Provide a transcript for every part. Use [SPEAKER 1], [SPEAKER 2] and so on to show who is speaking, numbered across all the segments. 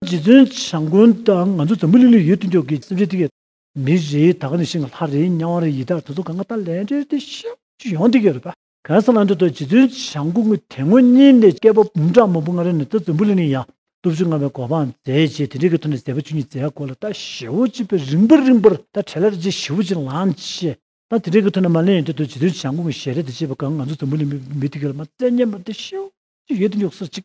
[SPEAKER 1] རྗེ་བཙུན་བྱམས་མགོན་དང་ང་ཚོ་འཛམ་བུ་གླིང་ལ་ཡོད་དུས་མགྱོགས་ཀྱི་སེམས་ཅན་ཐུགས་ཀྱི། མི་རེ་ད་ག་ནས་ཤི་ང་ལྷ་རེ་དམྱལ་བ་རེ་ཡི་དྭགས་དེ་ཚོ་གང་ག་ད་ལན་རེར་དེ་ཤི་ཤི་ཡོང་དེ་གི་རེད་པ། གང་ས་ལ་འགྲོ་འདུག་རྗེ་བཙུན་བྱམས་མགོན་ཀུན་དད་ངོ་གཉིས་ནས་སྐྱེས་པ་འབུམ་ཕྲག་མང་པོ་སྔ་རོལ་ནས་ད་འཛམ་བུ་གླིང་ལ་ཡང་སྟོབས་བཅུ་མངའ་བའི་གོ་འཕང་མཛད་རྗེས་དེ་འདྲའི་གི་ཐོག་ནས་མཛད་པ་བཅུ་གཉིས་མཛད་སྐོར་ལ་ད་ཞེ་བོ་གཅིག་པའི་རིང་པོ་རིང་པོར་ད་བྲལ་ལར་རྗེ་ཞེ་བོ་གཅིག་ལང་ཆེ་ད་དེ་འདྲའི་གི་ཐོག་ནས་མ་ལན་ཡོད་དུས་ད་རྗེ་བཙུན་བྱམས་མགོན་ཀུན་ཞལ་རས་དེ་བྱས་པ་གང་ང་ཚོ་འཛམ་བུ་གླིང་མི་དེ་གི་ལ་མ་བཙལ་ཉན་པ་ད་ཤི་ཤི་ཡོད་དུ་མགྱོགས་སར་གཅིག།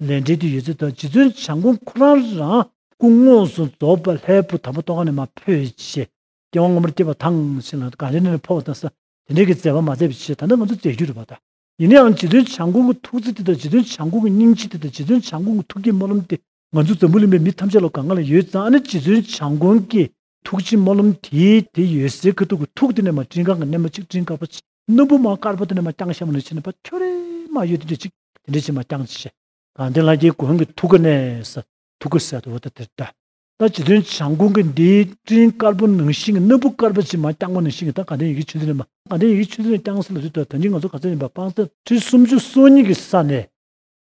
[SPEAKER 1] ལས་འབྲེལ་དུ་ཡོད་ཚུལ་དང་རྗེ་བཙུན་བྱམས་སྐུ་ཁོ་རང་རང་སྐུ་དངོས་སུ་རྫོགས་པ་ལྷའི་བུ་དམ་པ་ཏོག་ཁང་ནས་མ་འཕོས་རྗེས་རྒྱལ་དབང་སྔ་མོར་སྐྱེས་པ་ཐང་ཆེན་ལ་གངས་རི་ནས་འཕོ་བ་དང་ས་དེ་འབྲེལ་གྱི་མཛད་པ་མ་མཛད་པའི་ཕྱིར་ད་ནི་ང་ཚོ་མཛད་རྒྱུ་རེད་པ་དང། ཡིན་ནའང་རྗེ་བཙུན་བྱམས་སྐུ་གི་ཐུགས་བརྩེ་དེ་དང་རྗེ་བཙུན་བྱམས་སྐུ་གི་སྙིང་རྗེ་དེ་དང་རྗེ་བཙུན་བྱམས་སྐུ་གི་ཐུགས་ཀྱི་སྨོན་ལམ་དེ་ང་ཚོ་འཛམ་བུ་གླིང་པའི་མི་ཐམས་ཅད་ལ་གང་གང་ལ་ཡོད་ཙང་ཨ་ནི་རྗེ་བཙུན་བྱམས་མགོན་གྱི་ཐུགས་ཀྱི་སྨོན་ལམ་དེ་དེ་ཡོད་སའི་ཁུ་ཐུག་གི་ཐུགས་དེ་ནས་མ་སྤྲིན་གང་གི་སྣེ་མོ་གཅིག་སྤྲིན་དཀར་པོ་ཆེ་སྣུམ་པོ་མ་དཀར་པོ་དེ་ནས་མ་རྐྱང་ཤ་མོ་ནས་ཕྱི་ནས་པ་ཁྱོ་རེ་མ་ཡོད་དེ་འདྲས་གཅིག་དེ་འདྲས་ཆེ་མ་རྐྱང་ཆེ་ཤ། གང་དེ་ལྷ་རྒྱལ་གོང་གི་ཐུགས་ཀ་ནས་ས་ཐུགས་ཀ་ཟད་དོ་ད་དེར་བལྟ། ད་ཇི་དོན་བྱང་ཁུང་གི་འདི་སྤྲིན་དཀར་པོ་ནང་བཞིན་གྱི་སྣུམ་པོ་དཀར་པོ་ཆེ་མ་རྐྱང་པོ་ནང་བཞིན་གྱི་ད་གང་དེ་ཡི་གེ་ཆུ་འདི་ནས་མ་གང་དེ་ཡི་གེ་ཆུ་འདི་ནས་རྐྱང་ས་ལ་དུས་ད་ད་ནི་ང་ཚོ་ག་ཚོད་ཡིན་པ་དཔང་ས། ཁྲི་སུམ་ཅུ་སོ་གཉིས་ཀྱི་ས་ནས་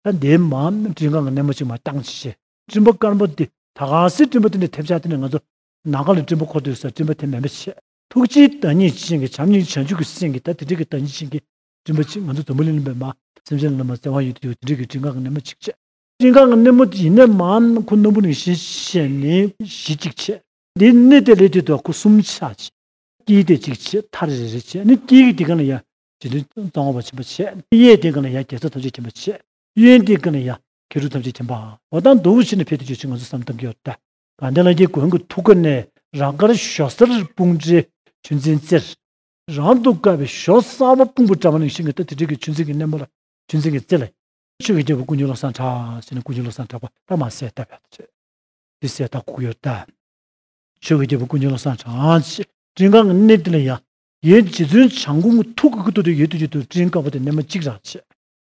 [SPEAKER 1] ད་འདས་མ་སྤྲིན་གང་གི་སྣེ་མོ་གཅིག་མ་རྐྱང་ཆེ་ཤ། སྤྲིན་པ་དཀར་མོ་འདི་ད་གང་སྲིད་སྤྲིན་པ་འདི་ནས་ཐེབས་ཆག་དེ་ནས་ང་ཚོ་ནང་ག་ལ་སྤྲིན་པ་འཁོར་དུ་ཡོད་སར་སྤྲིན་པ་དེ་མེད་མི་བྱེད། ཐུགས་རྗེའི་བདག་ཉིད་ཅན་གྱི་བྱམས་སྙིང་བྱང་ཆུབ་ཀྱི་སེམས་ཀྱིས་ད་དེ་འདྲིལ་གྱི་བདག་ཉིད་ཅན་གྱི་སྤྲིན་པ་ཅིག་ང་ཚོ་འཛམ་བུ་གླིང་གླིང་པའི་མ་སེམས་ཅན་ལ་ལ་མ་བརྩེ་བ་ཡོད་དུ་ཡོད་དེ་འདྲིལ་གྱི་སྤྲིན་གང་གི་སྣེ་མོ་ཅིག་བྱེད། སྤྲིན་གང་གི་སྣེ་མོ་ཡིན་ནས་མ་ཁུ་སྣམ་བུ་ནི་བཞི་བྱས་ནས་བཞི་ཅིག་བྱེད། དེའི་སྣེ་དེ་ལས་དེ་དུ་ཁུ་གསུམ་ཆ་བྱེད། དཀྱིལ་དེ་ཅིག་བྱེད་མཐའ་རེ་རེ་རེ་བྱས་ནས་དཀྱིལ་གྱི་དེ་གང་ལ་ཡང་བྱེད་དུ་རྩ་སྔོ་བ་བྱིན་པ་བྱས་གཡས་དེ་གང་ལ་ཡང་རྒྱལ་ཚབ་ཐམས་ཅད་བྱིན་པ་བྱས། གཡོན་སྟེང་ཀཱི་ལ་ཡ་གྷི་རུ་ཐམས་ཅད་མཁྱེན་པའོ། འོ་ད་མདོ་དབུས་ཕྱི་ནས་ཕེབས་ཏེ་ཆོས་ཕྱི་ངོ་སོ་བསམ་གཏམ་གྱི་འོ་ད། དགའ་ལྡན་ལ་རྒྱའི་མགོན་གྱི་ཐུགས་ཀ་ནས་རང་དཀར་ཞོ་གསར་སྤུངས་འདྲའི་ཆུ་འཛིན་རྩེར། རང་དུ་དཀར་བའི་ཞོ་གསར་བ་སྤུངས་པོ་བཀྲ་བ་ནི་ཤིང་གི་རྟ་དེ་དྲེགས་ཀྱི་ཆུ་འཛིན་གྱི་སྣེ་མོ་ལ་ཆུ་འཛིན་གྱི་རྩེ་ལ། ཆོས་ཀྱི་རྒྱལ་པོ་ཀུན་འབྱུང་བློ་བཟང་གྲགས་ཟེར་ནས་ཀུན་འབྱུང་བློ་བཟང་གྲགས་པ་རྟ་མ་སེ་རྟ་བས་ཐོད་ཟེར་སེ་རྟ་ཁུག་གི་འོ་ད། ཆོས་ཀྱི་རྒྱལ་པོ་ཀུན་འབྱུང་བློ་བཟང་གྲགས་ཀྱི་སྤྲིན་དཀར་གྱི་སྣེ་དེ་ལ་ཡ་གྱའི་རྗེ་བཙུན་བྱང་ཁུང་གི་ཐུགས་ཀྱི་ཀུ་ཏོ་དེ་ཡོད་དུས་ཀྱི་དུ་སྤྲིན་དཀར་པོ་དེ་སྣེ་མོ་གཅིག་རང་བྱས།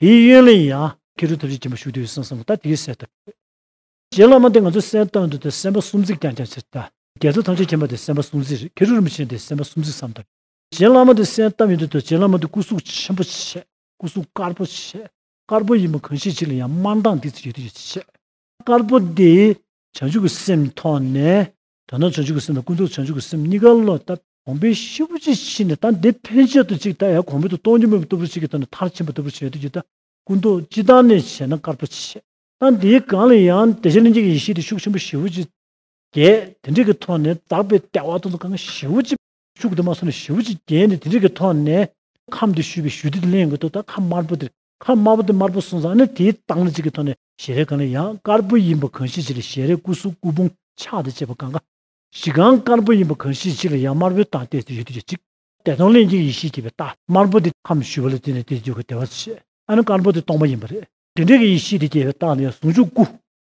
[SPEAKER 1] དེའི་གཡོན་ལ་ཡང། ཁེ་རུ་ཐབས་ཤེས་སྦྱིན་པ་ཞུགས་དུས་སུ་སེམས་བསམ་ལ་ད་དེའི་སྲས་ཐོབ། རྗེ་བླ་མ་འདི་ང་ཚོ་སེམས་བཏང་དུས་དེ་སེམས་དཔའ་སུམ་བརྩེགས་ཀྱང་ཀྱང་ཕྱིར་ལྟ། རྒྱལ་ཚབ་ཐམས་ཅད་མཁྱེན་པ་དེ་སེམས་དཔའ་སུམ་བརྩེགས་རེད་ཁེ་རུ་རིན་པོ་ཆེ་འདི་སེམས་དཔའ་སུམ་བརྩེགས་སམ་ད། རྗེ་བླ་མ་འདི་སེམས་བཏང་ཡོད་དུས་དེ་རྗེ་བླ་མ་འདི་སྐུ་གཟུགས་ཆེན་པོ་ཆེ། སྐུ་གཟུགས་དཀར་པོ་ཆེ། དཀར་པོ་ཡིན་པ་གང་ཤེས་ཅིག་ལ་ཡང་དམར་མདངས་དེའི་ཚེ་ཡོད་དུས་ཡོད་ཚད་ཆེ། དཀར་པོ་འདི། བྱང་ཆུབ་ཀྱི་སེམས་མཐོང་ནས། དོན་དམ་བྱང་ཆུབ་ཀྱི་སེམས་དང་ཀུན་རྟོག་བྱང་ཆུབ་ཀྱི་སེམས་གཉིས་ཀ་བློ་ལྟ་གོང་འཕེལ་ཤུགས་ཆེ་ཆེ་ཕྱིན་ནས་ད་འདི་ཕན་ཆད་དུ་ཅིག་ད་ཡང་གོང་འཕེལ་དུ་གཏོང་རྒྱུ་མེད་པ་ལྟ་བུ་ཞིག་གི་ཐོག་ནས་མཐར་ཕྱིན་པ་ལྟ་བུ་བྱེད་འདོད་ཀྱི་ད་ཀུན་རྟོག་སྤྱི་བཏང་ནས་བྱས་ན་དཀར་པོ་ཆེ། ད་འདིའི་སྒང་ལ་ཡང་བདེ་ཆེན་ལྷན་སྐྱེས་ཀྱི་ཡེ་ཤེས་དེ་ཤུགས་ཆེན་པོ་ཞི་བུ་ཅིག་རྒྱས་དེ་འབྲས་ཀྱི་ཐོག་ནས་འཛག་པའི་ལྟེ་བ་སྟོང་དུ་གང་གི་ཞི་བུ་ཅིག་བཅུ་དགུ་དུ་མ་གསུམ་ལས་བཞི་བོ་ཅིག་བརྒྱན་ནས་དེ་རིགས་ཀྱི་ཐོག་ནས། ཁམས་འདི་ཞུ་བའི་ཞུ་བདེ་དེ་གླེང་གི་འདུག་ད་ཁམས་དམར་པོ་དེར་ཁམས་དམར་པོ་དེ་དམར་པོ་གསུངས་ཙང་ནི་དེའི་རྟགས་ནི་གཅིག་གི་ཐོག་ནས་ཞལ་རས་གང་ལས་ཡང་དཀར་པོ་ཡིན་པ་གང་ཤེས་གཅིག་ལ་ཞལ་རས་སྐུ་གཟུགས་སྐུ་ཕུང་ཕྱག་དང་བཅས་པ་གང་ག་ཞིག་གང་དཀར་པོ་ཡིན་པ་གང་ཤེས་གཅིག་ལ་ཡང་དམར་པོའི་རྟགས་བལྟས་ཚེ་ཡུལ་དུས་ཀྱི་གཅིག། བདེ་སྟོང་གླེང་གཅིག་ཡེ་ཤེས་སྐྱེད་པའི་རྟགས་དམར་པོ་དེ་ཁམས་ཞུ་བ་ལ་བརྟེན་ནས་དེ་དུས་ཀྱི་བདེ་བ་ཆེས་ཨ་ནི་དཀར་པོ་དེ་སྟོང་པ་ཡིན་པ་རེད། དེ་འདྲའི་གི་ཡེ་ཤེས་དེ་སྐྱེད་པའི་རྟགས་ནི་ཡང་ཟུང་འཇུག་སྐུ།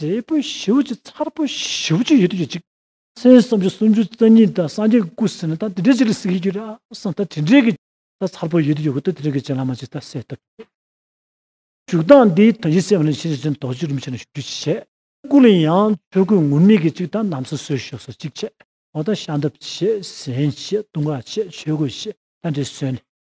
[SPEAKER 1] འབྲས་བུ་བཞི་བཅུ་མཚར་པོ་བཞི་བཅུ་ཡོད་དུ་གྱུར་ཅིག། ཚེས་བསམ་བཅུ་སུམ་ཅུ་རྩ་གཉིས་དང་སངས་རྒྱས་སྐུ་ཟིན་ལ་ད་དེ་འདྲའི་ཅིག་ལ་གཟིགས་ཀྱིས་ཀྱུར་སང་ད་དེ་འདྲའི་གྱི། ད་མཚར་པོ་ཡོད་དུ་གྱུར་གོ་ད་དེ་འདྲའི་གྱི་ཅན་ལ་མ་ཅིག་ད་གསལ་བཏབ་ཀྱིས། འཇུག་ལྡང་འདི་དོན་གྱི་སེམས་ལ་ནི་ཕྱི་ནས་ཅན་དོགས་གཅིག་རིམ་བྱས་ན་བཞུགས་རྒྱུ་གཅིག་བྱས། སྐུ་ལ་ཡང་ཆོས་སྐུ་ངུར་སྨྲིག་གི་ཅིག་དང་ནམ་སོ་སོའི་ཞོ་སོ་གཅིག་བྱས། འོ་ད་ཤ་འདབ་བྱས་ཟན་བྱས་བཏུང་བ་བྱས་ཆོས་གོས་བྱས་ད་འདྲའི་གསོན་ནས།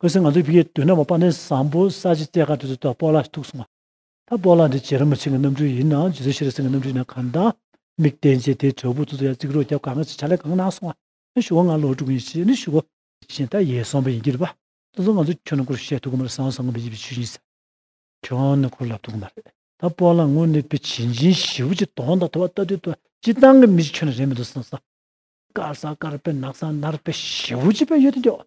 [SPEAKER 1] ཁོས་ང་ཚོའི་ཕིའི་དུད་ནག་མོ་པ་ནི་བཟང་པོ་ས་ཆི་རྩེ་དགའ་དུས་སུ་ད་སྤོ་ལགས་ཐུག་སོང་ང། ད་སྤོ་ལགས་འདི་བྱེད་ར་མི་བྱེད་ཀྱི་གནམ་གྲུ་ཡིན་ནའང་ཇི་ཚོད་ཤི་ར་སེང་གི་གནམ་གྲུ་ཡིན་ན་གང་ད། མིག་བསྟན་རྗེས་དེའི་དྲོད་ཕུག་ཏུ་ཏུ་ཡར་བརྩིགས་རོགས་རྒྱབ་གང་ང་ཅི་བྱ་ལས་གང་གནང་སོང་ང། ཨེ་ཞུ་བ་ང་ལོག་འགྲོ་གི་ཡིན་ཞེས་ནི་ཞུ་བ། གཞན་ད་ཡས་སོང་བ་ཡིན་གྱི་རེད་པ། ད་ཚོ་ང་ཚོ་ཁྱོད་ནང་སྐོར་བཤད་ཐུབ་གི་མ་རེད་བཟང་བཟང་ངོ་མི་ཡིད་པའི་ཆུ་ཡིན་ཟེར། ཁྱོད་ནང་སྐོར་ལབ་ཐུབ་གི་མ་རེད། ད་སྤོ་ལགས་ངོ་ནི་ཕི་བྱིན་ཅིན་བཞི་བོ་ཅིག་དོང་དང་དོ་བ་ལྟ་དུས་ད་སྤྱི་བཏང་གི་མི་ཅིག་ཁྱོད་ནང་རེད་མི་འདུག་བཟང་བཟང། དཀར་ཟ་དཀར་པེ་ནག་ཟ་ནར་པེ་བཞི་བོ་ཅིག་པེ་ཡོད་དུ་འགྱོགས།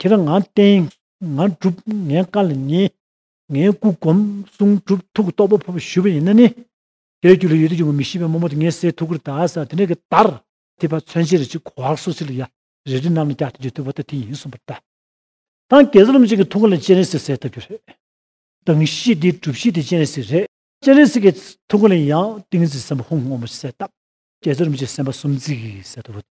[SPEAKER 1] ཁྱེད་རང་ང་བསྟེན། ང་སྒྲུབ་ངའི་བཀའ་ལ་ཉན། ངའི་སྐུ་བསྒོམ། གསུང་སྒྲུབ་ཐུགས་རྟོག་པ་ཕུབ་ཞུ་བ་ཡིན་ན་ནི། དེའི་རྒྱུ་ལས་ཡུལ་དུ་འབྱུང་བ་མི་ཤེས་པའི་རྨོ་མོ་དེ་ངའི་སའི་ཐུགས་ཀར་གདའ་ས་དེ་ནས་ཀྱི་དར། དེ་བར་མཚོན་བྱེད་རི་ཆུ་གོ་བར་སོགས་ཚིག་ལ་ཡ། རེ་རེ་རྣམས་ལ་བཀྱག་སྟེ་བརྗོད་ཐུབ་པ་ལྟ་དེ་ཡིན་གསུངས་པར་གདའ། དང་གེ་སར་རློམ་ཅན་གྱི་ཐུགས་ཀ་ལ་སྤྱན་རས་གཟིགས་གསལ་བཏབ་རྒྱུ་རེད། དང་གཞི་དེའི་སྒྲུབ་གཞི་དེ་སྤྱན་རས་གཟིགས་རེད། སྤྱན་རས་གཟིགས་ཀྱི་ཐུགས་ཀ་ལ་ཡང་ཏིང་འཛིན་སེམས་དཔའ་ཧཱུྃ་སྔོན་པོ་གསལ་བཏབ། གེ་སར་རློམ་ཅན་སེམས་དཔའ་གསུམ་གཟིགས་གསལ་བཏབ་རོ།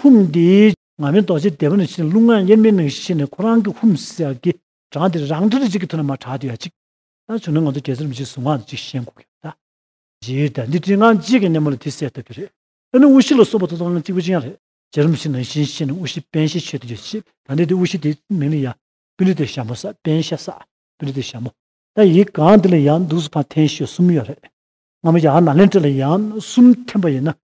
[SPEAKER 1] ཧཱུྃ་འདིས། ང་མིན་རྡོ་རྗེ་སྡེ་བ་ནས་ཕྱིན་ནས་རླུང་ལྔ་དབྱེར་མེད་གནང་གཞི་བྱས་ནས་ཁོ་རང་གི་ཧཱུྃ་མི་སྲིད་ཡག་གི་གྲངས་དེ་རང་གྲ་རེ་གཅིག་གི་ཐུགས་ན་མ་གྲགས་དུས་ཡག་གཅིག་ད་བྱུང་ན་ང་ཚོ་རྒྱལ་སར་མི་གཅིག་གཟུངས་སྔགས་འདི་གཅིག་བཤད་འགོ་གི་ཡོད་རེད་ད་འདི་བྲིས་སྔགས་གཅིག་གི་སྣེ་མོ་ལ་དེ་གསལ་ཐུབ་ཀྱི་རེད་དཔེར་ན་དབུ་བཞི་ལ་སོགས་པ་ཐུགས་དམ་ལ་གཅིག་པུ་གཅིག་ཡང་རེད་རྗེ་རུ་མི་སྲིད་ནང་བཞིན་བཤད་ནས་དབུ་བཞི་དཔལ་ཞལ་ཆོས་དེ་ཡོད་ཅེས་ད་འདི་དེ་དབུ་བཞི་དེ་མིང་ལ་ཡང། པི་ལི་ཏི་ཞྭ་མོ་སྲ་པན་ཤ་སྲ་པི་ལི་ཏི་ཞྭ་མོ། ད་ཡིག་གང་འདི་ལ་ཡང་འདུག་སུ་ཕ་འཐེན་ཤོས་གསུམ་ཡོད་རེད། སྔ་མོ་ཡང་ནཱ་ལེནྡྲ་ལ་ཡང་གསུམ་འཐེན་པ་ཡིན་ན་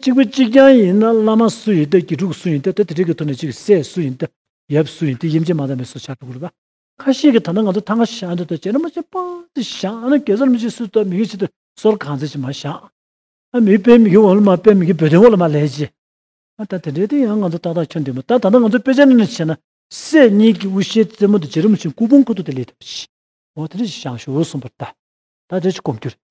[SPEAKER 1] གཅིག་པུ་གཅིག་རྐྱང་ཡིན་ན་བླ་མ་སུ་ཡིན་ཏེ་དགེ་ཕྲུག་སུ་ཡིན་ཏེ་དེ་དེ་དྲེག་གི་ཐུགས་ནས་ཅིག་སྲས་སུ་ཡིན་ཏེ་ཡབ་སུ་ཡིན་ཏེ་དབྱེ་འབྱེད་མ་དག་མེད་སོགས་བྱ་བའི་སྐུ་རུ་བ། ཁ་ཤས་ཀྱིས་ད་ནི་ང་ཚོ་ཐང་ག་ཞག་འདི་དང་བྱེ་ར་མ་ཅིག་པང་ཅིག་ཞག་ཨ་ན་གེ་སར་མ་ཅིག་སུ་ཏོག་མི་གི་ཆེད་དུ་སོར་གང་ཚད་ཅིག་མ་ཞག་ཨ་མི་དཔེ་མི་གི་འོག་ལ་མ་དཔེ་མི་གི་བོད་དོན་འོག་ལ་མ་ལས་ཅི། ཨ་ད་དེ་འདྲའི་དེ་ཡང་ང་ཚོ་ཏག་ཏག་ཁྱོད་འདི་མོ་ད་ད་ནི་ང་ཚོ་དཔེ་ཆ་ནི་ནི་བྱེ་ན་སྲས་གཉིས་ཀྱི་དབུ་ཞྭའི་རྩེ་མོ་དུ་བྱེ་ར་མ་ཅིག་སྐུ་ཕུང་ཁུ་ཐུག་དེ་ལས་ཐུག་ཅི། འོ་དེ་འདྲ་ཅིག་ཞག་ཞུ་འོ་གསུངས་པར་ད་ད་དེ་ཅིག་གོམས་རྒྱུ་རེད།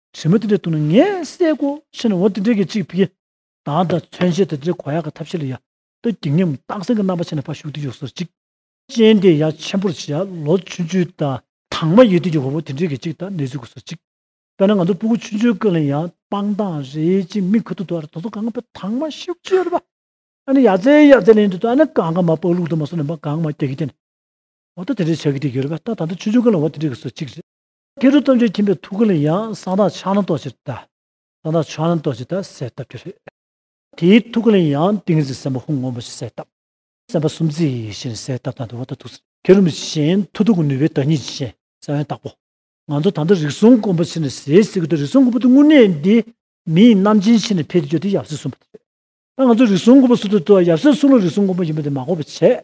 [SPEAKER 1] བྱེ་མ་དེ་འདྲའི་དུག་ནི་ངས་བསད་གོ་ཕྱིན་ན་འོ་དེ་འདྲའི་གེགས་གཅིག་ཕི་གེ། དང་ད་མཚོན་བྱེད་དེ་འདྲའི་གོ་ཡག་གི་ཐབས་ཤེས་ལ་ཡ། ཏོ་བགྱིད་སྙམ་སྟག་སེང་གི་རྣམ་པ་ཆེ་ན་ཕ་ཞུགས་དེ་ཡོ་སོར་གཅིག། ཅན་དེ་ཡ་ཆེན་པོར་བྱེད་ཡ་ལོ་ཆུན་ཆུན་ད། དང་མ་ཡོད་དུས་ཀྱི་འོ་བོ་དེ་འདྲའི་གེགས་གཅིག་ད་ནས་བཟོད་གོ་སོར་གཅིག། དཔེར་ན་ང་ཚོ་སྤུ་གུ་ཆུན་ཆུན་ཀུན་ལ་ཡང་སྤང་ཐང་རེ་གཅིག་མིག་ཁུ་ཐུག་ཐུག་ཨར་དོ་དོ་གང་གང་པོའི་དང་མ་ཤི་བོ་ཅི་ཡོད་པ། ཨ་ནི་ཡ་ཙེ་ཡ་ཙེ་ལེན་དུས་ད་ནི་གང་གང་མ་སྤག་ལུག་དུ་མ་སོ་ནི་མ་གང་མ་སྐྱ་གི་ཀྱ་ནི། འོ་ད་དེ་འདྲའི་བྱ་གི་དེ་གེ་རེད་པ་ད་ད་འདི་ཆུན་ཆུན་ཀུན་ལ་འོ་དེ་འདྲའི་གི་སོར་གཅིག་རེད། སྐྱེ་འགྲོ་ལྟ་འདྲེ་ཁྱིམ་པའི་ཐུགས་ཀ་ལ་ཡང་གསང་བདག་ཕྱག་ན་རྡོ་རྗེར་བལྟ། གསང་བདག་ཕྱག་ན་རྡོ་རྗེ་དང་གསལ་བཏབ་ཀྱི་རེད། དེའི་ཐུགས་ཀ་ལ་ཡང་ཏིང་ངེ་འཛིན་སེམས་དཔའ་ཧཱུྃ་སྔོན་པོ་ཞེས་གསལ་བཏབ། སེམས་དཔའ་སུམ་བརྩེགས་ཡེ་ཤེས་ནི་གསལ་བཏབ་དང་འདུལ་བ་དང་ཐུགས་སྲས། དེ་རིམ་བཞིན་མཐུ་སྟོབས་ཀྱི་ནུས་པའི་བདག་ཉིད་ཀྱི་ཞེས་གསལ་བས་བརྟག་གོ། ང་ཚོ་ད་ལྟ་རིགས་གསུམ་སྐོམ་པ་ཕྱིར་ནས་ཟས་ཟེར་གི་འདུག་རིགས་གསུམ་སྐོམ་པོ་དེ་དངོས་གནས་འདི་མི་ཡི་རྣམ་ཅན་ཕྱིར་ནས་འཕེལ་ཏེ་སྐྱོ་དེ་ཡབ་སྲས་གསུངས་པ་དེ་རེད། ད་ང་ཚོ་རིགས་གསུམ་སྐོམ་པོ་སུ་དེ་ལྟོས་ཡབ་སྲས་གསུངས་ལ་རིགས་གསུམ་སྐོམ་པོ་ཡིན་པ་དེ་མ་གོ་བ་བྱས།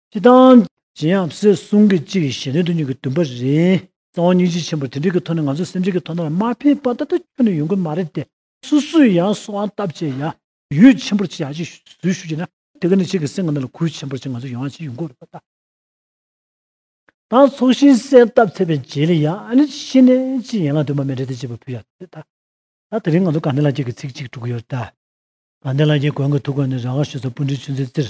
[SPEAKER 1] ཅི་དང། ཇི་ཡང་བསེ་གསུང་གི་གཅིག་གིས་གཞན་དོན་དུ་གཉིས་ཀྱི་འདུན་པ་རེད། གཙང་བ་སྙིང་རྗེ་ཆེན་པོར་དེ་འདྲིའི་གི་ཐོག་ནས་ང་ཚོ་སེམས་ཅན་གི་ཐོག་ན་ལ་མ་ཕན་པ་ད་ལྟ་ཁྱོན་ནས་ཡོང་གི་མ་རེད་དེ། སུ་སུས་ཡང་སུ་འང་སྟབས་བཅས་ཡ། ཡུད་ཆེན་པོར་ཅི་ཡང་ཅིག་ཟུར་ཞུ་གྱིས་ན། དེ་ག་ནས་ཁྱེད་ཀྱི་སེམས་ང་ནས་ལ་གུས་ཆེན་པོར་ཅིག་ང་ཚོ་ཡོང་ཡང་ཅིག་ཡོང་གི་རེད་པ་ད། དང་ཚོགས་ཤིང་གསལ་སྟབས་ཚད་པའི་མཇལ་ལེ་ཡ། ཨ་ནི་ཤི་ནས་ཅིག་ཡན་ལག་དུ་མ་མེད་རེད་དེ་ཅེས་པ་ཕུལ་ཡ་དེ་ད། ད་དེ་རིང་ང་ཚོ་དགའ་ལྡན་ལགས་ཀྱིས་གི་ཚིག་ཅིག་དྲུག་གི་ཡོད་རེད་ད། དགའ་ལྡན་ལགས་ཀྱིས་གོང་གི་ཐུགས་ཁ་ནས་རང་དགར་ཞུས་སོ་སྤུན་གྲི་ཆུ་འཛིན་རྩེར།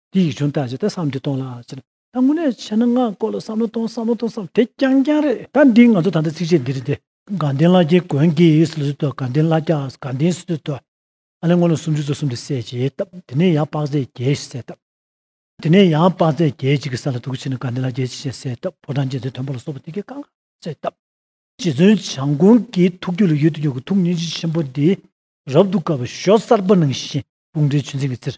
[SPEAKER 1] དེ་ཡིག་ཆུང་ལྟར་བྱས་ད་བསམ་དུས་གཏོང་ལ་ཟེར། ད་དངོས་གནས་བྱས་ན་ངག་སྐོར་ལ་བསམ་བློ་གཏོང་བསམ་བློ་གཏོང་བསམ་དེ་རྐྱང་རྐྱང་རེད། ད་འདི་ང་ཚོ་ད་ལྟ་ཚིགས་བཅད་འདི་རེད་དེ། དགའ་ལྡན་བླ་རྒྱལ་དགོན་དགེ་ཡིས་ལུས་སྲོལ་དང་དགའ་ལྡན་བླ་རྒྱ་དགའ་ལྡན་ཟས་སྲོལ་དང། ཨ་ལས་སྔོ་ལོ་སུམ་ཅུ་རྩ་གསུམ་དེ་བསད་ཅེས་བཏབ་དེ་ནས་ཡང་དཔག་ཚད་བརྒྱད་ཞེས་བསད་བཏབ། དེ་ནས་ཡང་དཔག་ཚད་བརྒྱད་གཅིག་གི་ས་ལ་དུག་ཕྱིས་ན་དགའ་ལྡན་བླ་རྒྱལ་གྱིས་ཞེས་བསད་བཏབ་ཕོ་བྲང་རྗེ་བཙུན་མཐོན་པོ་ལ་སོགས་པ་དེ་གའི་བཀའ་འགའ་བསད་བཏབ། རྗེ་བཙུན་བྱམས་མགོན་གྱི་ཐུགས་རྒྱུད་ལ་ཡོད་དུ་ཡོད་དགུ་ཐུགས་ཉིན་བྱེད་ཆེན་པོ་འདི། རབ་ཏུ་དགའ་བའི་ཞོ་གསར་པ་ནང་བཞིན་དཔུང་སྒྲའི་ཆུ་འཛིན་གྱི་རྩེར།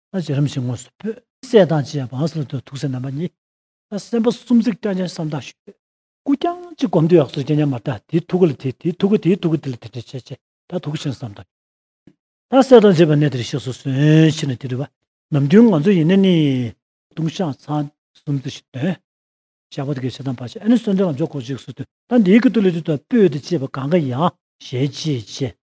[SPEAKER 1] ལྷ་བྱེད་རིམ་བཞིན་དངོས་སུ་འཕོས། སྲས་དང་བཅས་པ་ཨཱས་ལ་དུ་ཐུགས་སྲས་རྣམ་པ་གཉིས། ལྷ་སེམས་དཔའ་གསུམ་གཟིགས་སྐྱབས་མཆན་བསམ་བཏགས་ཞུས། སྐུ་རྐྱང་གཅིག་བསྒོམ་དུས་ཨཱས་སོགས་སྐྱེ་གཉེན་མ་དག་དེའི་ཐུགས་ཀ་ལ་དེ་དེའི་ཐུགས་ཀ་དེའི་ཐུགས་ཀ་དེ་ལ་དེ་འདྲེ་བྱེད་ཅེས་དག་ཐུགས་ཤིང་བསམ་དང། ལྷ་སྲས་དང་བཅས་པ་གནས་དེར་གཤེགས་སུ་གསོལ། ཕྱིས་ནས་དེ་དྲི་བ། ནམ་རྒྱུན་ང་ཚོ་ཡིན་ནས་ནི། ལྟུང་བཤགས་ཚང། སུམ་བརྩི་ཞིག་དོན། བཤགས་པ་དེ་གའི་བྱེད་དང་བར་ཆད་ཨཱས་ནི་གསོལ་འདེབས་ལ་འཇོག་གོ་ཅིག་གསོལ་དུས་ད་འདིའི་གི་ཏུ་ལི་ཏུ་དང་སྤོས་ཏི་བཅས་པ་གང་ག་ཡང་ཞལ་གྱིས་བཅད།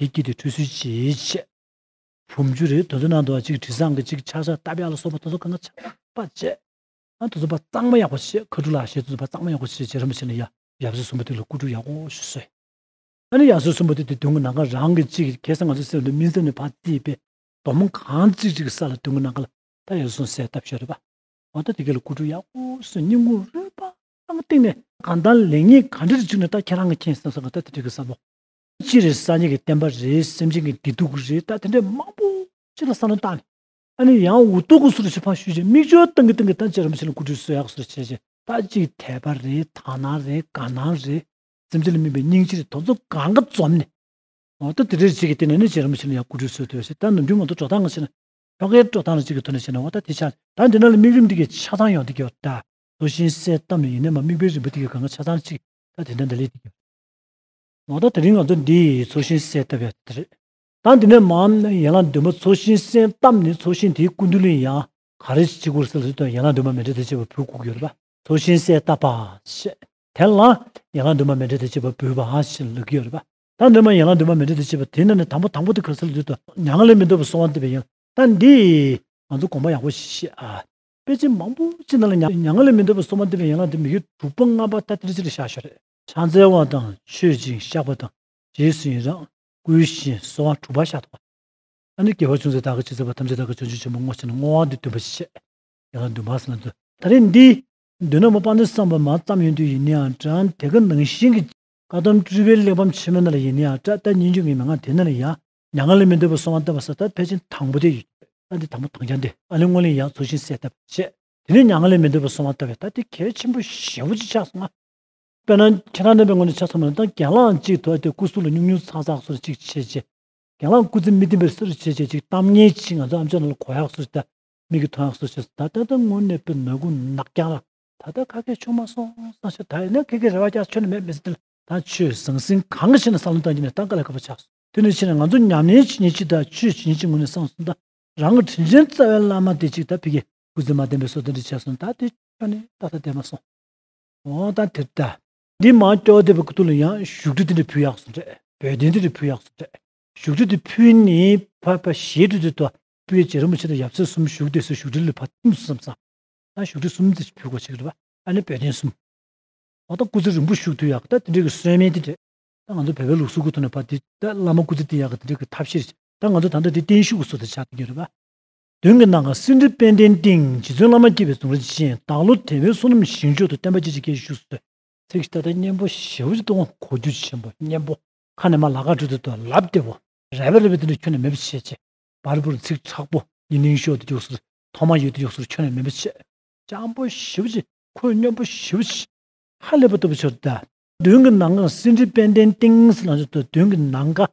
[SPEAKER 1] དེ་བསྐྱིལ་ཏེ་ཁྲུས་གསོལ་གྱིས་བྱས། བུམ་ཆུ་རེ་དོ་དོ་ནང་དུ་གཅིག་དྲི་བཟང་གི་གཅིག་ཆག་ཆག་རྟ་བྱ་ལ་སོགས་པ་དོ་དོ་གང་གང་ཆག་ཆག་པ་བྱས། ཨ་དོ་དོ་པ་གཙང་མ་ཡག་པོ་བྱས་ཁ་ཁྲུ་ལ་ཞེས་དོ་དོ་པ་གཙང་མ་ཡག་པོ་བྱས་བྱས་རིན་པོ་ཆེ་ལ་ཡབ་སྲས་གསུམ་པོ་དེ་ལ་སྐུ་ཁྲུ་ཡག་པོ་ཞིག་གསོལ། ཨ་ནི་ཡབ་སྲས་གསུམ་པོ་དེ་དེ་དོན་གྱི་ནང་ཁར་རང་གི་ཅིག་གེ་སར་ང་ཚོའི་སེམས་དུ་སྨིན་སེམས་ནི་བག་རྩིས་པས་དོ་མོ་གང་གཅིག་ཅིག་གི་ས་ལ་དོན་གྱི་ནང་ཁར་ལ་ད་ཡོད་སོང་ཟས་བཏབ་ཞོར་རེད་པ་མ་གཏོགས་དེ་ག་ལ་སྐུ་ཁྲུ་ཡག་པོ་བསོད་སྙིང་གུ་རུས་པ་གཏིང་ནས། གང་དང་ལེགས་ཉེས་གང་འདྲ་རེ་བྱུང་ནས་ད་ཁྱེད་རང་གི་མཁྱེན་སེམས་སོགས་གང་ད་དེ་དྲིས་གི་ས་མོ། ཅི་རེད་སངས་རྒྱས་ཀྱི་བསྟན་པ་རེད་སེམས་ཅན་གྱི་བདེ་སྡུག་རེད་ད་དེ་འདྲའི་མང་པོ་ཅི་ལ་བསམ་བློ་བཏང་ཨ་ནི་ཡང་འུ་ཐུག་གུ་སུ་རུ་ཕྱིར་འཕངས་ཞུས་རྗེས་མིག་ཆུ་ཏང་གི་ཏང་གི་ཐང་ཅི་རིམ་ཕྱི་ལ་སྐུ་དྲུང་སོ་ཡག་གུ་སུ་རུ་ཕྱིར་རྗེས་ད་ཅིག་དད་པ་རེད་དག་སྣང་རེད་དགའ་སྣང་རེད་སེམས་ཅན་ལ་སྨིན་པའི་སྙིང་རྗེ་རེད་དོ་ཚོ་ག་འགའ་འཛོམས་ནས་འོ་ད་དེ་འདྲའི་རྗེས་ཀྱི་ལྟས་ནས་ནི་ཅི་རིམ་ཕྱི་ལ་ཡང་སྐུ་དྲུང་སོ་དེ་བ་ཞིག་ད་ནམ་རྒྱུན་ང་ཚོ་འགྲོ་སྟངས་ཕྱི་ལ་ཁྱོ་གའི་འགྲོ་སྟངས་ལ་ཅིག་གི་ཐོག་ནས་བཤད་ན་འོ་ད་དེ་ཆ་ད་འདི་ན་ལ་མིག་རིམ་འདི་གའི་ཆ་ཚང་ཡོང་འདི་གའོ་ད་དོ་ཤིང་སའི་གཏམ་ལ་ཡིན་ན་མ་མིག་པའི་རིམ་པ་འདི་གའི་ག་འགའ་ཆ་ཚང་ཅིག་ད་དེ་འདྲ་འདི་ལས་འདི་གའོ། ང་ད་དེ་རིང་ང་ཚོ་འདི་ཡི་ཚོགས་ཞིང་གསན་བཏབ་ཡག་དེ་རེད། ད་འདི་ནས་མའམ་ཡན་ལག་འདུན་མ་ཚོགས་ཞིང་གསན་བཏབ་ནས་ཚོགས་ཞིང་དེའི་སྐུ་མདུན་ལིང་ཡ་ག་རེ་ཞིག་བྱེད་དགོས་ཟེར་ལ་དེ་དང་ཡན་ལག་འདུན་མ་མེ་འབྲས་དེ་བྱེད་པར་བུ་བཀུག་ཡོད་ལབ་པ་ཚོགས་ཞིང་གསན་བཏབ་པ་ཞེས་དེ་ལ་ཡན་ལག་འདུན་མ་མེ་འབྲས་དེ་བྱེད་པར་བུ་བ་ཞེས་ལབ་ཀྱི་ཡོད་ལབ་པ་ད་འདི་མ་ཡན་ལག་འདུན་མ་མེ་འབྲས་དེ་བྱེད་པ་དེ་ན་ནས་དང་པོ་དང་པོ་དེ་ག་ཟེར་ལ་དེ་དང་ཡང་ང་ལས་མི་འདོད་པར་སོང་བ་འདི་བས་ཡིན་ལ་ད་འདི་ཡིས་ང་ཚོ་དགོངས་པ་ཡག་པོ་ཞིག་བཤད་ཨ། དཔེ་ཆ་མང་པོ་ཅི་ན་ལ་ཡང་ང་ལས་མི་འདོད་པར་སོང་བ་འདི་བས་ཡན་ལག་འདི་མི་ཡུལ་དྲུག་པ་ལྔ་པ་ད་དེ་རེ་ཅི་རེ་བཞག་ཤོག་རེད། ཕྱག་འཚལ་བ་དང་མཆོད་ཅིང་བཤགས་པ་དང་རྗེས་སུ་ཡི་རངས་བསྐུལ་བཞིན་གསོལ་བ་དྲུག་པ་བཤགས་ཐོགས་པ། ད་ནི་དགེ་བ་ཅུང་ཟད་བདག་གི་ཇི་སྲིད་བར་ཐམས་ཅད་བདག་གི་བྱང་ཆུབ་ཆེན་པོ་བསྔོ་བྱས་ན་བསྔོ་བ་འདི་འདོན་པ་ཞེས་བཤད། དེ་ལ་འདུན་པ་སེམས་ལ་འདོད། ད་རེས་འདི་འདོན་ན་མོ་དཔའ་འདོད་བསམ་པ་མ་བརྩམས་ཡོང་དུས་ཡིན་ནའང་བཀྲ་འང་དེ་ག་ནང་བཞིན་གྱི་བཀའ་གདམས་སྤྲུལ་པའི་གླེགས་བམ་ཆེན་མོ་ན་ལ་ཡིན་ནའང་བཀྲ་བལྟ་སྙིང་རྗེ་ངས་མི་མངའ་དེ་ན་ལ་ཡང་མྱ་ངན་ལས་མི་འདོད་པར་སོང་བ་བལྟ་བ་ས་ཐག་ཕལ་ཆེན་དང་པོ་དེ་ཡིན། ད་འདི་དང་པོ་དང་བྱ་འདི་ཨ་ལས་སྔོ་ལས་ཡག་ཚུལ་བཞིན་གསལ་བལྟ་བ་ཞེས་དེ་ནས་མྱ་ངན་ལས་མི་འདོད་པར་སོང་བ་བལྟ་བའི་ཐ་དེ་གལ་ཆེན་པོ་ཞེ་བོ་ཅིག་ཆགས་སོང་ང། དཔེར་ན་ཁྱེད་རང་རྣམ་པའི་ངོ་ནས་ཆ་ཚང་མ་ལ་ཏང་གྱེན་ལངས་གཅིག་ཐོག་སྟེ་སྐུ་གཟུགས་ལ་སྙུག་སྙུག་ཚག་ཚག་སོར་གཅིག་བྱས་རྗེས། གྱེན་ལངས་སྐུ་ཚེ་མི་བདེན་པའི་སོར་བྱས་རྗེས་ཅིག་གཏམ་ངན་གྱིས་ང་ཚོ་ཨམ་ཆོས་རྣམས་ལ་གོ་ཡག་སོར་བལྟ། མིག་གིས་མཐོང་ཡག་སོར་བྱས་སོ་ད་ལྟ་ད་ངོ་ནས་པའི་ནག་ཁུང་ནག་རྐྱང་ལ། ད་ལྟ་ཁ་སྐད་ཆུང་མ་སོང་སང་ཤ་ད་ཡིན་ན་ཁྱེད་ཀྱི་རེ་བ་ཀྱང་ཆོད་ནི་མེད་མི་སྲིད་དེ་ལ་ད་ཆོས་ཟང་ཟིང་གང་གི་ཕྱི་ནང་བསམ་བློ་བཏང་རྒྱུ་ནས་ད་ག་ལ་ག་པར་ཆགས་སོང་དེ་ནས་ཕྱི་ནས་ང་ཚོ་ཉམས་ལེན་བྱེད་ཉེན་ཅིག་ད་ཆོས་བྱེད་ཉེན་ཅིག་ངོ་ནས་སང་སོང་ད་རང་གི་དྲིན་ཆེན་རྩ་བའི་བླ་མ་དེ་ཅིག་ད་ཕི་གས་སྐུ་ཚེ་མ་བདེན་པའི་སོར་དེ་འདྲ་བྱས་སོང་ད་དེ་ཁྱོན་ནས་ད་ད་བསྡད་མ་སོང། འོང་དང་དེར་བལྟ། འདི་མ་ཀྱོག་དེ་བས་ཀུ་ཐུ་ལ་ཡང་བཞུགས་ཁྲི་དེ་འདྲ་ཕུལ་ཡགས་སུ་འདྲ་བོད་དེ་འདྲ་ཕུལ་ཡགས་སུ་འདྲ་བཞུགས་ཁྲི་དེ་ཕུལ་ནས་ཕ་ཕ་ཞེས་ཁྲི་དེ་ཏོ་པོའི་རྗེས་རིན་པོ་ཆེ་དང་ཡབ་སྲས་གསུམ་བཞུགས་དེ་སྲས་བཞུགས་ཁྲི་ལས་ཕ་གསུམ་གསུམ་བསམ་སང་བཞུགས་ཁྲི་གསུམ་དེ་ཕུལ་གོ་ཆེ་གི་རེད་པ་ཨ་ནི་བོད་དེ་གསུམ་འོང་དང་སྐུ་ཚེ་རིང་པོ་བཞུགས་ཐུ་ཡགས་ད་དེ་འདྲ་གི་གསོལ་སྨན་དེ་འདྲ་ད་ང་ཚོ་བོད་པའི་ལུགས་སྲོལ་གུ་ཐུ་ནས་ཕ་དེ་ད་བླ་མ་སྐུ་ཚེ་དེ་ཡགས་གི་དེ་འདྲ་གི་ཐབས་ཤེས་རེད་ད་ང་ཚོ་ད་ལྟ་དེ་བརྟན་བཞུགས་གི་སྲོལ་དེ་ཆགས་ཐུ་གི་རེད་པ། མདུན་གྱི་གནང་སྐབས་སེང་ཁྲི་དཔལ་ལྡན་སྟེང་རྗེ་བཙུན་བླ་མ་སྐྱིད་པའི་གཟུངས་རེ་བཅས་བདག་བློ་དད་མོས་བསོད་ནམས་ཞིང་མཆོག་ཏུ་བརྟན་པ་བཅས་ཀྱི་སྐད་ཅིག་བཞུགས་སུ་གསོལ། ཚིག་བཞི་ཏག་ཏག་སྙན་པོ་ཞལ་བཞི་སྟོང་གོ་རྒྱུ་ཆེན་པོ་སྙན་པོ། ཁ་ནས་མ་ལགས་ཁ་སྤྲོད་དུ་ལབ་བདེ་བོ། རལ་པ་རལ་པའི་དུས་ན་ཁྱོད་ནི་མེད་པར་བྱེད། ཅེས་པར་བུར་ཚིག་དྲག་པོ་ཉི་གླིང་ཤོག་ཏུ་རྒྱུགས་སོ། ཐོག་མར་ཡུལ་དུ་རྒྱུགས་སོ་ཁྱོད་ནི་མེད་པར་བྱེད། སྤྱང་པོ་བཞི་བཅས་ཁོད་སྙོམས་པོ་བཞི་བཅས། ཧ་ལས་པ་སྟོབས་པོ་ཆོས་དང་ལྡན། མདུན་གྱི་གནང་སྐབས་སེང་ཁྲི་དཔལ་ལྡན་སྟེང་སེ་ལང་ཆོས་དང་མདུན་གྱི་གནང་སྐབས།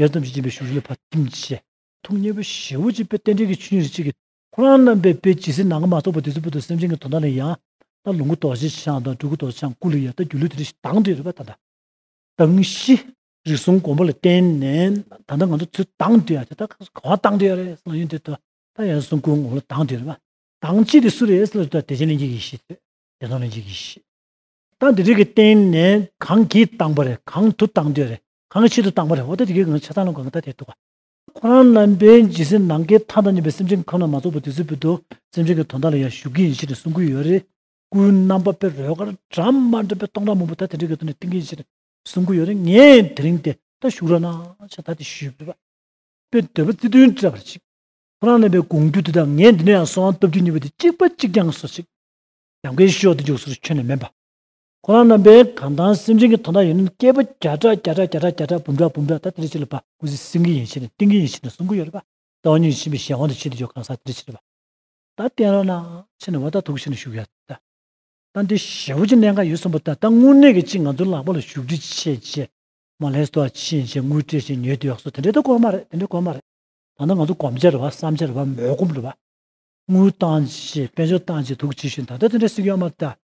[SPEAKER 1] ཡར་ཙམ་གྱི་སྦྱིན་པའི་ཞུགས་ལས་བར་ཐིམ་བྱས། ཐུགས་མཉེས་པོ་བཞི་བོ་གཅིག་པའི་རྟེན་འབྲེལ་གྱི་ཆོས་ཉིད་རིགས་གཅིག་གི། ཁོ་རང་རྣམ་པའི་དཔེ་ཇི་སྲིད་ནང་གི་མ་རྟོགས་པ་དེ་ཚོའི་བུ་དང་སེམས་ཅན་གྱི་དོན་དག་ནི་ཡང་དག་ལོངས་སྐུ་རྡོ་རྗེ་འཆང་དང་སྤྲུལ་སྐུ་རྡོ་རྗེ་འཆང་སྐུ་ལས་ཡང་དག་སྒྱུ་ལུས་དེ་རིགས་དང་དེ་རིགས་པ་དང། དང་བཞི། རིགས་གསུམ་སྒོམ་པ་ལ་བརྟེན་ནས་ད་ལྟ་ང་ཚོ་ཚུལ་དང་དེ་ཡང་དེ་ལྟར་གང་ཟག་དང་དེ་ཡང་རེད་སེམས་ལ་ཡོན་ཏན་དང་དེ་ཡང་གསུང་སྐུའི་ངོ་བོ་ལ་དང་དེ་རིགས་པ་དང་གཅིག་དེ་སུ་རེད་སེམས་ལ་བདེ་ཆེན་ལྷན་སྐྱེས་ཀྱི་གཞི་དེ་བདེ་སྟོང་ལྷན་སྐྱེས་ཀྱི་གཞི། དང་དེ་རིགས་ཀྱི་བརྟེན་ནས་གང་གིས་དང་བ་རེད་གང་དུ་དང་དེ་ཡང་རེད་གང་གི་ཆེད་དུ་བཏང་བ་རེད་འོ་ད་དེ་གའི་གང་གི་ཆེད་བཏང་ལ་གང་གི་ད་དེ་འདུག་ག། ཁོ་རང་རྣམ་པས་ཇི་སྲིད་ནང་ཁའི་མཐའ་དང་གཉིས་པའི་སེམས་ཅན་གྱི་ཁམས་ལ་མ་ཚོགས་པར་དུས་ཚོད་ཕུལ་དུ་སེམས་ཅན་གྱི་དོན་དག་ལ་ཡང་ཞུགས་ཀྱི་ཡིན་ཞེས་ནས་གསུང་གི་ཡོད་རེད། སྐུའི་རྣམ་པ་པའི་རོལ་གར་དྲ་མ་འདྲ་པའི་སྟོང་ཕྲག་མང་པོ་ད་དེ་འདྲའི་ག་དུས་ནས་བསྟན་གྱི་ཡིན་ཞེས་ནས་གསུང་གི་ཡོད་རེད་ངས་དེ་རིང་དེ་ལྟར་ཞུགས་རོགས་གནང་ཞེས་ད་དེ་ཞུས་པས། པའི་འདོད་པ་བརྩེ་དུང་སྤྲད་པར་གྱིས། ཁོ་རང་རྣམ་པས་དགོངས་རྒྱུ་དེ་དག་ངས་འདི་ནས་ཡང་གསོལ་བ་འདེབས་རྒྱུ་གཉིས་པ་དེ་གཅིག་པ་གཅིག་རྐྱང་སོ་གཅིག། ཡང་ཁའི་ཤོག་དེ་རྒྱུགས་སོར་ཆོད་ནས་མེད་པ། ཁོ་རང་རྣམ་པའི་གང་དང་སེམས་ཅན་གྱི་དོན་དག་ཡིན་ནམ་སྐྱེས་བུ་བརྒྱ་ཕྲག་བརྒྱ་ཕྲག་བརྒྱ་ཕྲག་བརྒྱ་ཕྲག་འབུམ་ཕྲག་འབུམ་ཕྲག་ད་དེ་རེ་ཕྱིར་ལ་བབས། ཀུན་གཟིགས་སེང་གེའི་ཡེ་ཤེས་ནི་ཏིང་ངེ་འཛིན་ཕྱིར་ནི་སྲུང་འཁོར་ཡོད་ལ་བབས། རྩ་བ་ཉིད་ཕྱིན་པའི་གཞན་དབང་དུ་ཕྱིན་ཏེ་ཡོ་གའང་སངས་ཏེ་དེ་རེ་ཕྱིར་ལ་བབས། ད་བསྟན་རོགས་གནང། ཕྱིན་ནི་བ་ད་དུག་ཕྱིར་ནི་བཞུགས་ཡོད་ལ་བབས། ད་འདི་ཞེ་བོ་ཅི་གནད་འགའ་ཡོད་གསུངས་པ་ད་ད་དངོས་གནས་ཀྱི་ཅི་ང་ཚོའི་ལག་པ་ལ་བཞུགས་ཁྲི་ཆེ་རྗེས་མ་ལྷའི་སྟོད་ཕྱིན་རྗེས་དངུལ་སྤྲད་བཞིན་ཉོས་དེ་ཡོག་གསོ་དེ་འདྲའི་དུ་གོ་མ་རེད་དེ་འདྲའི་གོ་མ་རེད། ད་ནི་ང་ཚོ་གོམས་ཆེར་བ་བསམ་ཆེར་བ་མོས་གོམས་ལ་བབས། དངུལ་བཏང་རྗེས་དཔལ་འབྱོར་བཏང་རྗེས་དུག་བྱེད་ཤུལ་ད་ད་དེ་འདྲའི་སྲིད་སྐྱོང་མ་ད་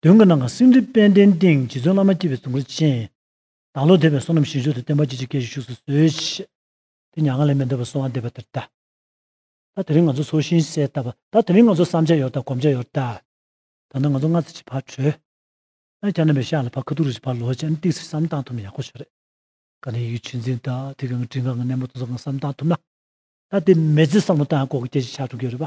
[SPEAKER 1] མདུན་གྱི་ནང་གི་སེང་ཁྲི་པད་ཟླའི་སྟེང་རྗེ་བཙུན་བླ་མ་སྐྱིད་པའི་གཟུགས་འཁོར་ཅན། བདག་བློ་དད་པའི་བསོད་ནམས་ཞིང་མཆོག་ཏུ་བསྟན་པ་ཅི་བྱེད་སྐད་ཅིག་བཞུགས་སུ་གསོལ། དེ་མྱ་ངན་ལས་མི་འདའ་བར་སོང་བ་འདས་པ་དེར་བལྟ། ད་དེ་རིང་ང་ཚོ་ཚོགས་ཤིང་གསལ་བཏབ་པ་ད་དེ་རིང་ང་ཚོ་བསམ་བྱ་ཡོར་དང་གོམས་བྱ་ཡོར་བལྟ། ད་ནི་ང་ཚོ་སྔ་ཚེ་ཅིག་བར་བྲོས། ཨ་ཀྱཱ་ནམ་པའི་ཤག་ལ་བར་ཁ་ཐུག་རིགས་ཅིག་བར་ལོག་ཅིག་ཨ་ཏིག་སེར་བསམ་གཏང་ཐུབ་ན་ཡག་པོ་ཞིག་རེད། ག་ནི་ཡིད་ཆེས་འཛིན་ད་ཐིག་གི་ངའི་དྲིན་གང་གི་སྣེ་མོ་ཏོག་ཙམ་གང་བསམ་གཏང་ཐུབ་ན། ད་དེ་མེ་ཙི་བསམ་བློ་བཏང་ཡང་ལྐོག་གི་སྐད་ཅིག་ཆགས་འགྲོ་གི་རེད་པ།